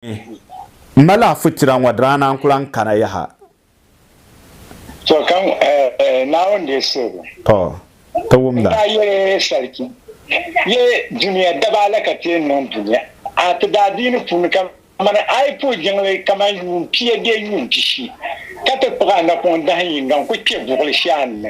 M mali a fitira ŋɔ diraana n ku lan kana yaha. To, ka Naawuni deei siligu. To, ti wumda. N daa yɛli Sarki, Yɛ dunia daba ala ka ti yɛn niŋ dunia a ti daadiini puuni kaman a yi puhi jiŋli kaman yuun pia bee yuun pishi, ka ti kpuɣi a napɔŋ dahin yiŋga n-ku kpe buɣili shɛli a ni.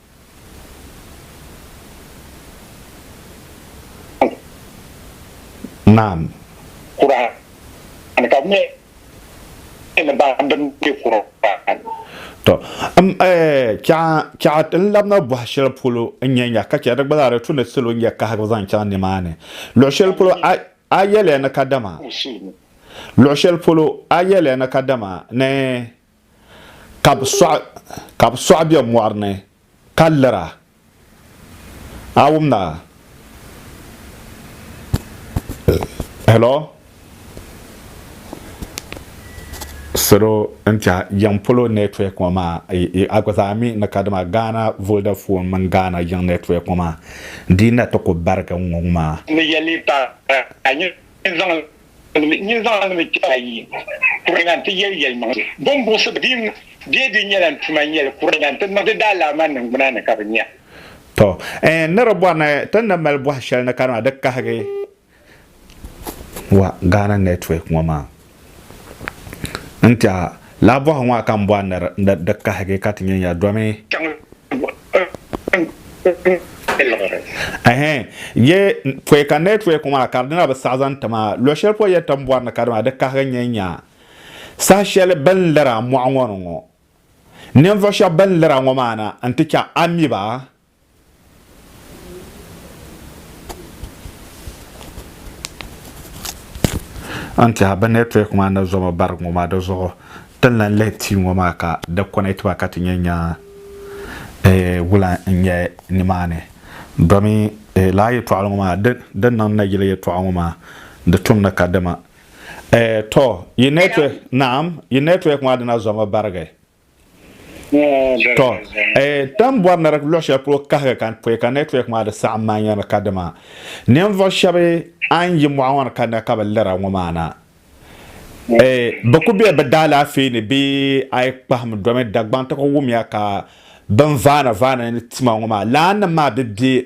Naam. Kur'an ka nyɛ ni ba din be Kur'an. To m eh chaɣa ti ni labina bɔhi shɛli polo n nyɛ ya ka chɛ di gba zaa di tu ni salo nyɛ kahigu zaŋ chaŋ nimaani luɣi shɛli polo a yɛliya ni kadama luɣi shɛli polo a yɛliya ni kadama ni ka bɛ sɔɣi ka bɛ sɔɣi be mɔri ni ka lira. A wum na? Hello? Salo n tɛha yiŋ polo network ŋɔ maa a gba zaa mi ni ka dama Ghana Vodafone mini Ghana yiŋ network ŋɔ maa di yi na ti ku barigi ŋ ŋɔ maa. Ni yɛli paɣa a yi zaŋ Nyin zaŋ mi ti a yi kuri na nti yɛli yɛlimaŋli. Bom buɣisibu din be di nyɛla n-tuma n-yɛli kuri na nti niŋdi daalaama niŋgbuna ni ka bɛ nya. Tɔ! Ɛɛn ni di bɔri ni ti ni mali bɔhi shɛli ni ka dama di kahigi wa Ghana network ŋɔ maa n-ti a. Laa bɔhi ŋɔ a ka n bɔ a ni di kahigi ka ti nya ya domi. Chaŋ n-ti liɣiri. Ɛhɛɛ, yɛ pɔi ka n lee tuhi kum a ka di dina bi saɣi zaŋ ti ma. Luɣ shɛli pɔi yɛn tam bɔri ni ka di maa, di kahigi n yɛn nya saha shɛli bɛ ni liri a mɔɣu ŋɔ ni ŋɔ. Ninvuɣ shɛb bɛ ni liri a ŋɔ maa na nti chɛ a mi ba. N tiɛha bi network maa ni zoma barig ŋɔ maa di zuɣu tin lan lihi tia ŋɔ maa ka di connect ba ka ti nyɛ nya eh, wula n nyɛ nimaani domi eh, laa yɛtɔɣili ŋɔ maa di di niŋ na yili yɛtɔɣa ŋɔ maa di tum ni ka dima eh, to yi network naam yi network maa dina zoma barigi To, e tam bɔri ni di luɣi shɛli polo kahigi ka pɔi ka network maa di saɣim maa nyɛri ka dima ninvuɣu shɛba a ni yi mɔɣu ŋɔ ni ka na ka bi lira ŋɔ maa na e bi ku be bi daalaafee ni bee a yi kpahim domi Dagbaŋ ti ku wumya ka bin vaani vaani ni tima ŋɔ maa laanim maa bi be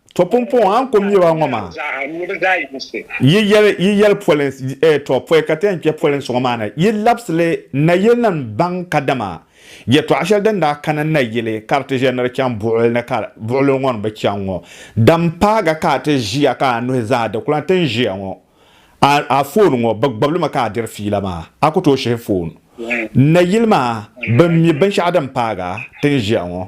To pumpɔŋɔ a ni ku mi ba ŋɔ maa, yi yɛli, yi yɛli polinsi, eh, to pɔi ka ti yɛn kpe polinsi ŋɔ maa ni, yi labisi li nayili ni n-baŋ kadama yɛtɔɣ shɛli din daa kani nayili ka di ti ʒe ni di chaŋ buɣili ni ka buɣili ŋɔ ni bi chaŋ ŋɔ, din paagi ka a ti ʒiya ka a nuhi zaa di ku lan tin ʒiya ŋɔ. A, a foon ŋɔ, bɛ gbibi li mi ka a diri fiila maa. A ku tooi shihi foon nayili maa, bɛ mi binshɛɣu din paagi a tin ʒiya ŋɔ.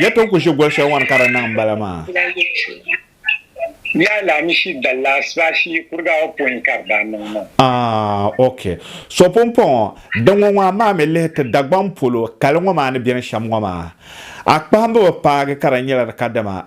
Ya tooi ku ʒi goli shɛli ŋɔni ka di niŋ m-bala maa? Yaa laamishi dalla asibaasi yi kuriga o pɔin ka di daa niŋ maa. Ah, ok. So pumpɔŋɔ, din ŋɔ ŋɔ amaa mi lihi ti Dagbaŋ polo kali ŋɔ maa ni beni shɛm ŋɔ maa, a kpahimbu bi paagi ka di nyɛla di kadama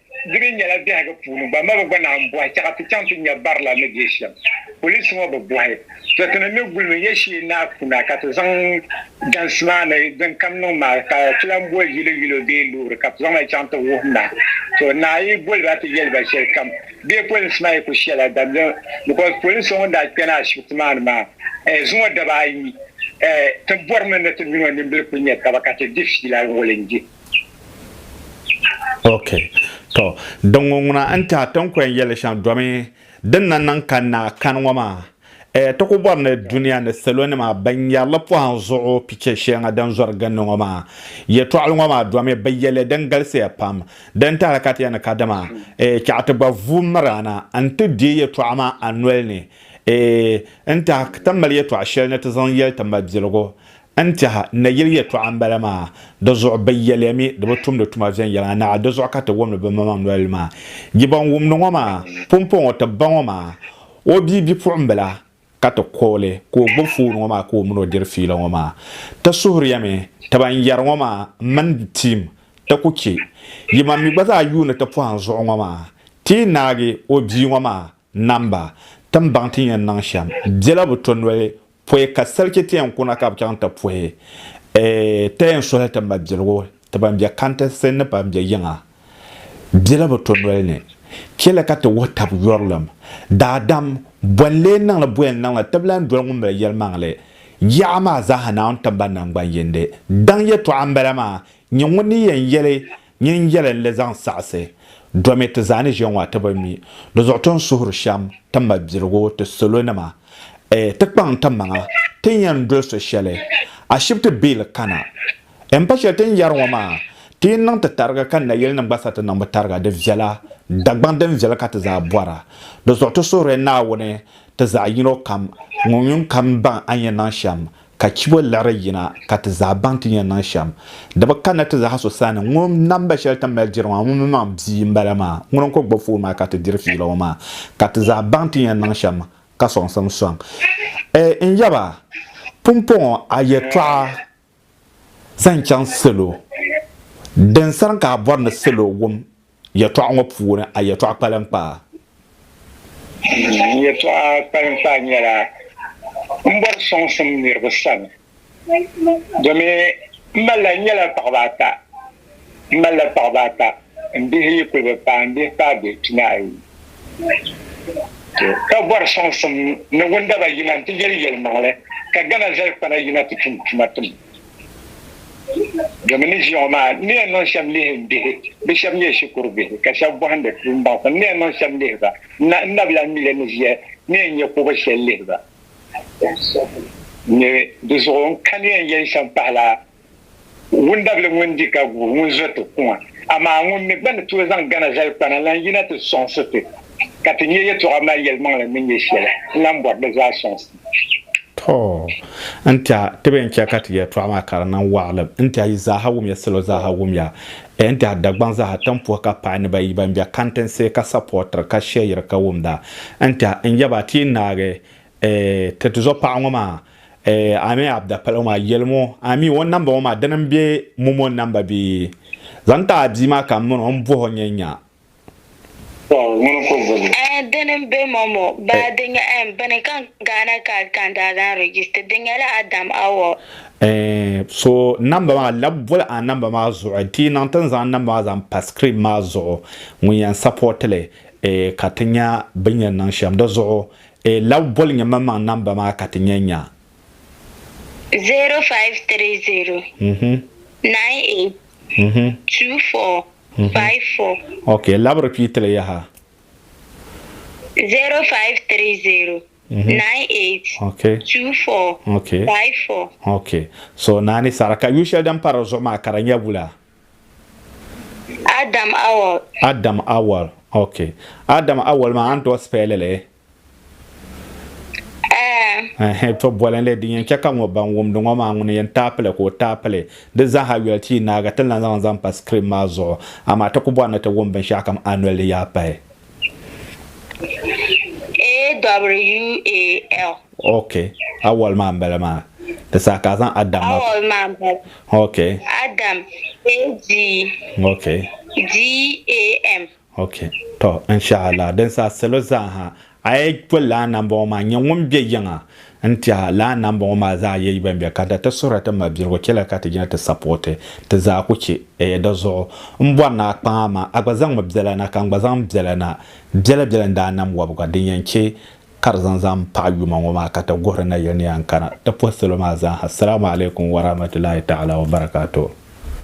Di mi nyɛla biɛhigu puuni gba ma bi gba naan bɔhi chɛ ka ti chaŋ ti nya barila ni be shɛm. Poliis ŋɔ bi bɔhi to ti ni ni gulimi ya shee ni a kuna ka ti zaŋ dansi maa ni din kam niŋ maa ka ti lan boli yili yilo bee loori ka ti zaŋ li chaŋ ti wuhi na. To naa yi boli ba ti yɛli ba shɛli kam bee polinsi maa yi ku shɛla dam din because polin so ŋun daa kpɛna ashibiti maa ni maa eh zuŋɔ daba ayi eh ti bɔrimi ni ti mini o nimbili kuli nya taba ka ti di fiila ŋɔ lindi. ok to din ŋɔ ŋuna n tiɛha ti ni kɔŋ yɛli shɛm domi din na niŋ ka naa kani ŋɔ maa eh, ti ku bɔri ni dunia ni salo nima ban nyari li pɔhim zuɣu picha shɛŋa din zɔri ginni ŋɔ maa yɛtɔɣili ŋɔ maa domi bi yɛ li din galisiya pam din tahili ka ti yɛn ni ka dama eh, chɛɣu ti gba vu miri a na n ti deei yɛtɔɣa maa a noli ni eh, n tiɛha ti mali yɛtɔɣa shɛli ni ti zaŋ yɛli ti mabiligu N tɛha, n na yɛli yɛtɔɣa m-bala maa, di zuɣu bɛ yɛliya mi di bi tumdi tuma viɛnyɛliŋa naɣa, di zuɣu ka ti wumdi bimaŋmaŋ nolili maa. Yi bɔn wumdi ŋɔ maa, pumpɔŋɔ ti ba ŋɔ maa, o bia bipuɣimbila, ka ti kɔ o li ka o gbibi foon ŋɔ maa ka o min o diri fiila ŋɔ maa. Ti suhiriya mi ti ban yɛri ŋɔ maa m-mini tiim ti ku chɛ yimaŋ mi gba zaa yuuni ti pɔhim zuɣu ŋɔ maa, ti yi naagi o bia ŋɔ maa Namba, Tim baŋ ti ni yɛn niŋ shɛm bela bi to noli pɔi ka salchi ti yɛn kuna ka bi chaŋ ti pɔi ta yɛn suhi ti mabiligu ti ban be kantisi ni ban be yiŋa bela bi to noli ni. Chɛli ka ti wuhi tab yurilim. Daadam, Bɔ n-lee niŋ li bɔ yɛn niŋ li ti bi lan doli ŋun mali yɛlimaŋli yaɣa maa zaaha Naawuni tiŋgbani naŋgban yindi? Daŋ yɛtɔɣa m-bala maa, nyɛ ŋun ni yɛn yɛli Nyin yɛli n-lee zaŋ saɣisi, Domi ti zaa ni ʒiya ŋɔ a ti bi mi, di zuɣu ti ni suhiri shɛm ti mabiligu ti salonima. Ɛ, ti kpaŋ n-ti maŋa, ti ni yɛn doli so shɛli, ashibiti biili kana. Ɛ m-pa shɛli ti ni yɛri ŋɔ maa, ti yi niŋ ti tarigi kani na yɛlinim gba sa ti niŋ bi tariga, di viɛla, Dagbaŋ din viɛli ka ti zaa bɔra. Di zuɣu ti suhiri Naawuni ti zaɣ yino kam, ŋun yuŋ kam baŋ a ni yɛn niŋ shɛm, Ka chibo liɣiri yina ka ti zaa baŋ ti ni yɛn niŋ shɛm. Di bi kanna ti zaa so sani ŋun namba shɛli ti ni mali diri maa ŋun mi maŋ bia m-bala maa ŋuni n-kul gbubi foon maa ka ti diri fiila ŋɔ maa ka ti zaa baŋ ti ni yɛn niŋ shɛm ka sɔŋsim sɔŋ. Eei n yaba, pumpɔŋɔ a yɛtɔɣa zaŋ chaŋ salo din sarim ka a bɔri ni salo wum Yɛltɔɣa ŋɔ puuni a yɛltɔɣa kpalinkpaa? N yɛltɔɣa kpalinkpaa nyɛla m bɔri sɔŋsim niriba sani domi m malila, n nyɛla paɣiba ata, m malila paɣiba ata, m bihi yi kuli bi paai, m bihi paai bihi pinaayi ka bɔri sɔŋsim ni wundaba yina nti yɛli yɛlimaŋli ka Ghana zalikpana yina ti tum tuma tim. Domi ni ʒiya ŋɔ maa, n ni yɛn niŋ shɛb lihi bihi, bɛ shɛb nyɛ shikuru bihi, ka shɛb bɔhindi tuumbaŋsim. N ni yɛn niŋ shɛb lihi ba, n nabila Mile ni ʒiya n ni yɛn nyɛ kobo shɛli lihi ba. Ni di zuɣu n kani yɛn yɛli shɛm pahila wundabili ŋun di ka guui, ŋun zo ti kuŋa. Amaa ŋun mi gba ni tooi zaŋ gana zali kpana lan yina ti sɔŋsi ti, ka ti nyɛ yɛtɔɣa mali yɛlimaŋli ni nyɛ shɛli n lan bɔri di zaa sɔŋsi. To n tɛha ti bɛn chɛ ka ti yɛltɔɣa maa ka di niŋ waɣilim n tɛha yi zaaha wumya salo zaaha wumya eh, n tɛha Dagbaŋ zaaha tampuhi ka paai ni ba yi ban be kantinsi ka sapɔɔtiri ka shɛyiri ka wumda n tɛha n yɛba ti yi naagi eh, ti tizɔ paɣa ŋɔ maa eh, Amii Abdapalo maa yɛlim o Amii o namba ŋɔ maa dini m-be Momo namba bee zaŋ ti a bia maa ka m mini o m bɔh o nyɛ nya Aya dini m-be ma ŋɔ baa di nyɛ M bini ka Ghana Card ka n daa zaŋ register di nyɛla Adam Awor. So namba maa lab boli a namba maa zuɣu n ti niŋ ti ni zaŋ namba maa zaŋ pa screen maa zuɣu ŋun yɛn support li ka ti nya bɛ ni yɛn niŋ shɛm di zuɣu lab boli nyɛ maŋmaŋ namba maa ka ti nya nya. 0530 98 24 54. Ok, labi repeat li yaha. 0530 98 okay. 24 okay. 54. Ok, so naani saɣiri ka yu shɛli din pa di zuɣu maa ka di nyɛ wula? Adam Awal. Adam Awal, ok. Adam Awal maa a ni tooi spell li? to bɔli li din yɛn chɛ ka ŋɔ ban wumdi ŋɔ maa ŋuni yɛn taai pili ka o taai pili di zaaha yoli ti yi naagi ti ni lan zaŋ zaŋ pa sikirin maa zuɣu amaa ti ku bɔri ni ti wum binshɛɣu kam a noli yaa pahi. AWAL. Ok, awal maa n bala maa. Di saha ka a zaŋ Adam maa. Awal maa n bala. Ok. Adam, A-D. Ok. D-A-M. Ok tɔ inshaallah din saha salo zaaha a yi pɔ laa nambɔŋɔ maa nyɛ ŋun bɛ yiŋa n tiɛha laa nambɔŋɔ maa zaa yɛ ban bɛ kanta ti suhiri ti mabiligu chɛliya ka ti yina ti sapɔti ti zaa ku chɛ eeh di zuɣu n bɔri ni a kpaŋ amaa a gba zaŋmi biɛla na ka n gba zaŋ biɛla na biɛla biɛla n daa nam wɔbiga din yɛn chɛ ka di zaŋ zaŋ paɣi yuma ŋɔ maa ka ti guhiri nayili ni yɛn kana ti pɔ salo maa zaaha Salaamu alaikum warahmatullahi taala wabarakatuh.